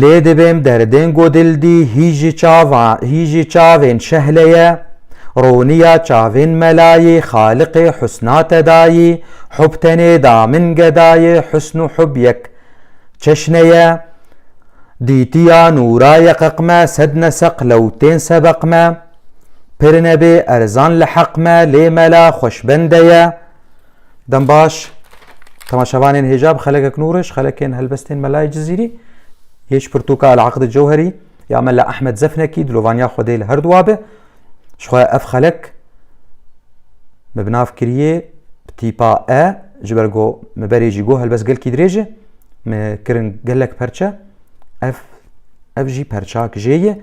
Lê dibêm derdên ku dil dî hî ji çava hî ji çavên şehle ye, roniya çavên melayê xaliqê husna te dayî, hub tenê da min gedayê husn û hub yek çeşne ye, dîtiya nûra ye qeq me sed neseq lew tên sebeq me, pir nebê erzan li heq me lê mela xweş bende ye. Dembaş, temaşevanên hêja bi xelekek nûriş, xelekên helbestên melayê Cizîrî, yê ji pirtûka Elaqdi Cewherî, ya Mela Ehmed Zefnekî, dilovaniya Xwedê li her du abe, ji xwe ev xelek me bi nav kiriye bi tîpa e, ji ber go me berê jî go helbest gelkî dirêj e, me kirin gelek perçe, ev ev jî perçak jê ye.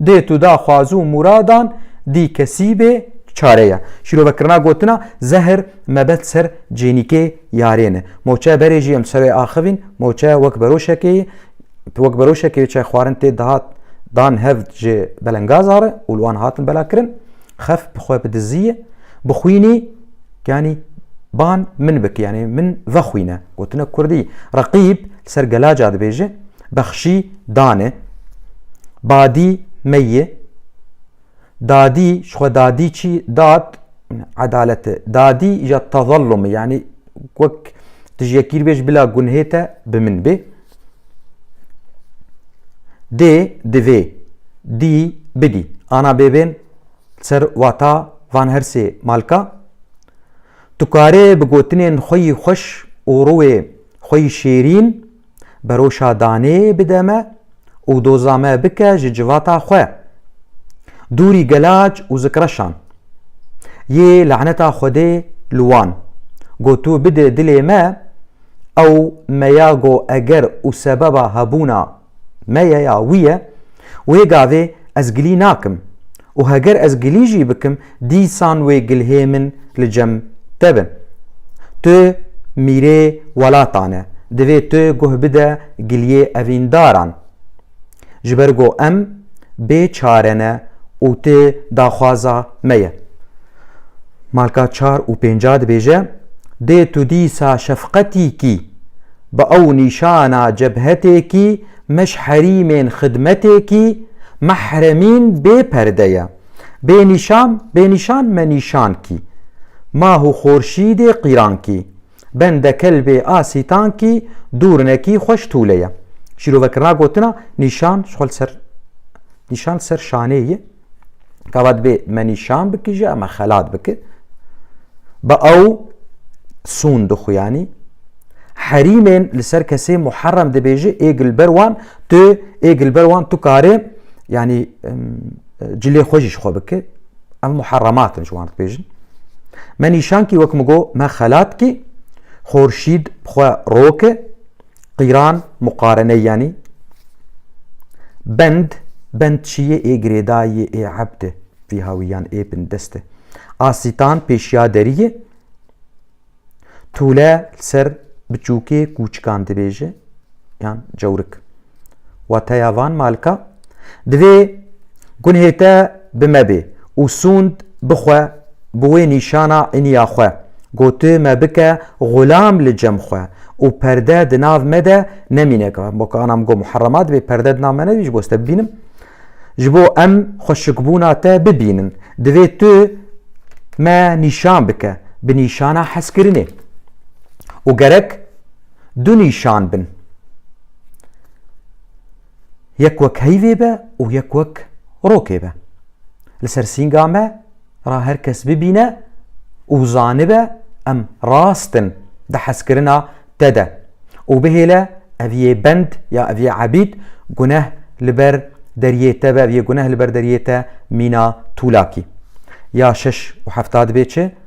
Dêt û da xwaz û mûradan dî kesî bê çare ye. Şîrovekirina gotina zehir mebet ser cênîkê yarê ne. Moçe berê jî em ser wê axivîn, moçe wek beroşekê yê, wek beroşekê yê çay xwarin tê dihat dan hev ji belengazar e û li wan hatin belakirin. Xef bi xwe bi dizî ye. Bixwînî yanî ban min bike yanî min vexwîne. Gotina kurdî. Reqîb li ser gelaca dibêje. Bexşî dane. Badî meyê. Dadî ji xwe dadî çî dad edalete. Dadî ja tezellumê yanî wek tu ji yekî bê ji bila gunhê te bi min bê. Dê divê dî bidî. Ana bêbên ser wata van her sê malka. Tu karê bi gotinên xwe yî xweş û rûyê xwe yî şêrîn Beroşa danê bide me û doza me bike ji civata xwe. Dûrî gelac û zikreşan. Yê laneta Xwedê li wan. Go tu bide dilê me, ew me ya go eger û sebeba hebûna me ye ya wî ye, wê gavê ez gilî nakim Û heger ez gilî jî bikim, dîsan wê gilhê min li cem te bin. Tu mîrê welatan e, divê tu guh bide giliyê evîndaran. Ji ber ku em bê çare ne û tu daxwaza me ye. Malka çar û pênca dibêje, Dê tu dîsa şefqetîkî bi ew nîşana cebhetêkî Meşherîmên xidmetekî mehremîn bê perde ye. Bê nîşan, bê nîşan me nîşan kî. Mah û xorşîdê qîran kî. Bende kelbê a sîtan kî dûr ne kî xweş tûle ye. Şîrovekirina gotina nîşan ji xwe li ser nîşan li ser şanê ye. Kava dibê me nîşan bikî ji em xelat biki. Bi ew sûn dixuyanî herîmên li ser kesê muherrem dibêji ê gilber wan tu ê gilber wan tu karê yanî cilê xwe jî ji xwe biki ev muherrematin ji wan dibêjin me nîşankî wek min got me xelat kî xorşîd xwe roke Qîran muqarene yanî bend bend çiyê ê girêdayê ê ebde vîha wî yan ê bindeste. Asîtan pêşiya deriyê tûle ser biçûkê kûçikan dibêje yan cewrik. Wateya van malka, divê gunhê te bi me bê û sûnd bixwe bi wê nîşana iniya xwe, ku tu me bike xulam li cem xwe û perde di nav me de nemîne ka bo ka anam go muherrema divê perde di nav me nebî ji bo ez te bibînim, ji bo em xweşikbûna te bibînin divê tu me nîşan bike bi nîşana hezkirinê û gerek du nîşan bin. Yek wek heyvê be û yek wek rokê be. Li ser sînga me ra her kes bibîne û zanibe em rast in di hezkirina te de û bihêle ev yê bend ya ev yê ebîd guneh li ber deriyê te be ev yê guneh li ber deriyê te mîna tûlakî. Ya şeş û hefta dibê çi?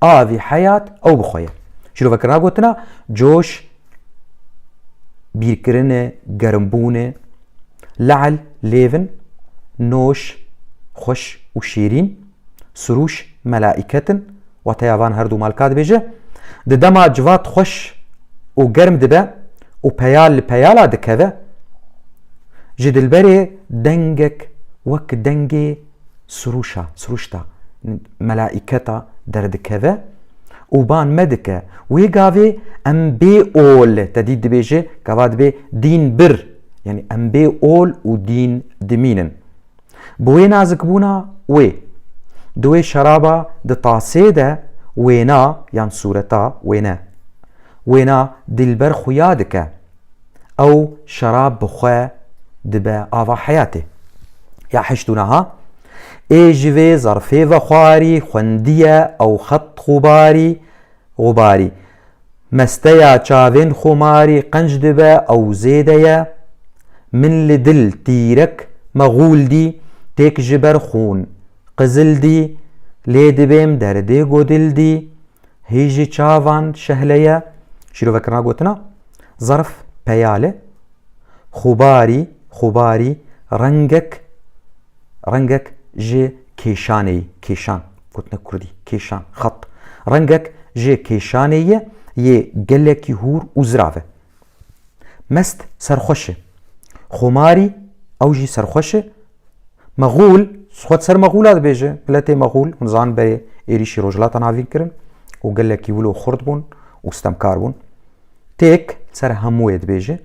Avî heyat ew bi xwe ye. Şîroveke ra gotina coş, bîrkirine, gerimbûne, le'l, lêvin, noş, xweş û şêrîn, sirûş, melaîket in, wateya van her dû mal ka dibêje, di dema civat xweş û germ dibe û peyal li peyala dikeve, ji dilberê dengek wek dengê sirûşa, sirûşta melaîketa derdikeve û ban me dike. Wê gavê em bê ol, te dît dibêje gava dibê dîn bir, yanî em bê ol û dîn dimînin. Bi wê nazikbûna wê, di wê şeraba di tasê de wêna yan sûreta wêne, wêna dilber xuya dike. Ew şerab bi xwe dibe ava heyatê. Ya heşt û niha ê ji vê zerfê ve xwarî xwendiye ew xet xûbarî xûbarî. Mesteya çavên xûmarî qenc dibe ew zêde ye. Min li dil tîrek me xûl dî têk ji ber xûn qizil dî. Lê dibêm derdê godil dî. Hî jî çavan şehle ye. Şîrovek na gotina zarf peyale xubarî xubarî rengek rengek ji kêşanê kêşan gotina kurdî kêşan xat rengek ji kêşanê ye yê gelekî hûr û zirav e. Mest serxweş e. Xomarî ew jî serxweş e. Mexûl, xwe di ser mexûla dibêje, miletê mexûl, hûn zan berê êrîşî Rojhilata Navîn kirin û gelekî wilo xurt bûn û stemkar bûn. Têk ser hemû yê dibêje.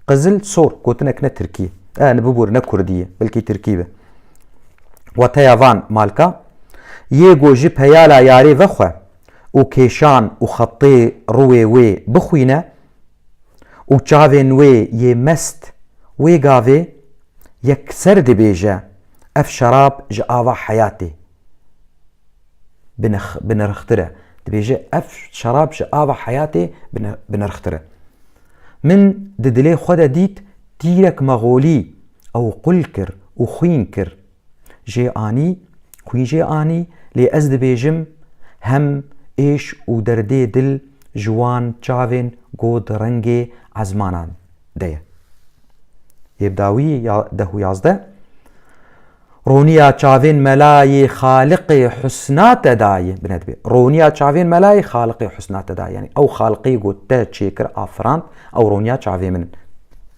Qizil sor gotinek ne Tirkî ye. E, ne bibûr ne Kurdî ye, belkî Tirkî be. Wateya van malka, yê gojî peyala yarê vexwe, û kêşan û xetê rûê wê bixwîne û çavên wê yê mest wê gavê yekser dibêje ev şerab ji ava heyatê binirxtir e, dibêje ev şerab ji ava heyatê binirxtir e. Min di dilê xwe de dît tîrek mexolî ew qul kir û xwîn kir. Jê anî, xwî jê anî lê ez dibêjim hem êş û derdê dil ji wan çavên ku di rengê ezmanan de ye. Yê bi dawî ya deh û yazdeh Roniya çavên mela yê xaliqê husna te dayê bine dibe. Roniya çavên mela yê xaliqê husna te dayê. Yanî ew xaliqê ku te çêkir afirand ew roniya çavê min in.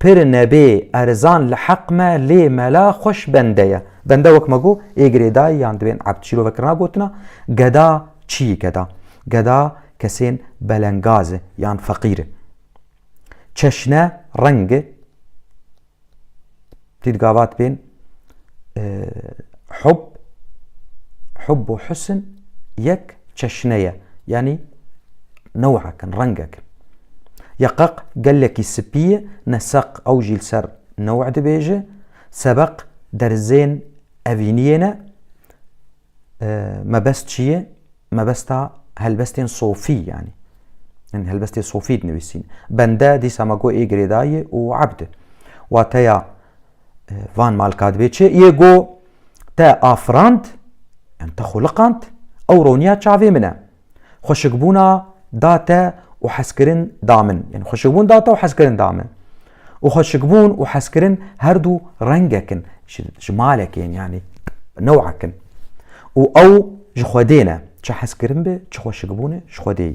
Pir nebê erzan li heq me lê mela xweş bende ye. Bende wek me got ê girêdayî yan divên ebd şîrovekirina gotina geda çiyî geda. Geda kesên belengaz e yan feqîr e. Çeşne, reng e. Dît gavat bên. hub hub û husn yek çeşne ye yanî newhekin rengekin ya qeq gelekî spî ye neseq ew jî li ser new dibêje sebeq derzên evîniyê ne mebest çi ye mebesta helbestên sofî yanî yani helbestê sofî dinivîsîn bende dîsa me got ê girêdayê û abd wateya van malkadibê çi yê go te afirand em te xuliqand ew roniya çavê min e xweşikbûna da te û hezkirin da min yani xweşikbûn da te û hezkirin da min û xweşikbûn û hezkirin her dû rengekin ji malekê yani newakin û ew ji xwedê ne çi hezkirin bi çi xweşikbûn ji xwedê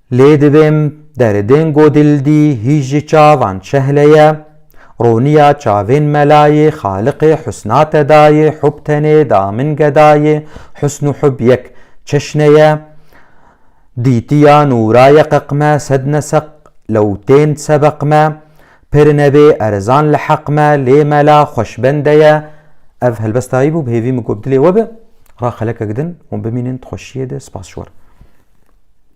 Lê divêm deridên godildî hîş ji çavan çehleye, roniya çavên melayê xaliqê husna te dayê hub tenê da min gedayê husn û hub yek çeşne ye, dîtiya nûraye qeq me sed neseq lew tên sebeq me, pir nebê erzan li heq me lê mela xweş bende ye, ev helbestayî bû bi hêvî min got bi dilê we be, ra xelekek din hûn bimînin di xweşiyê de spas ji we re.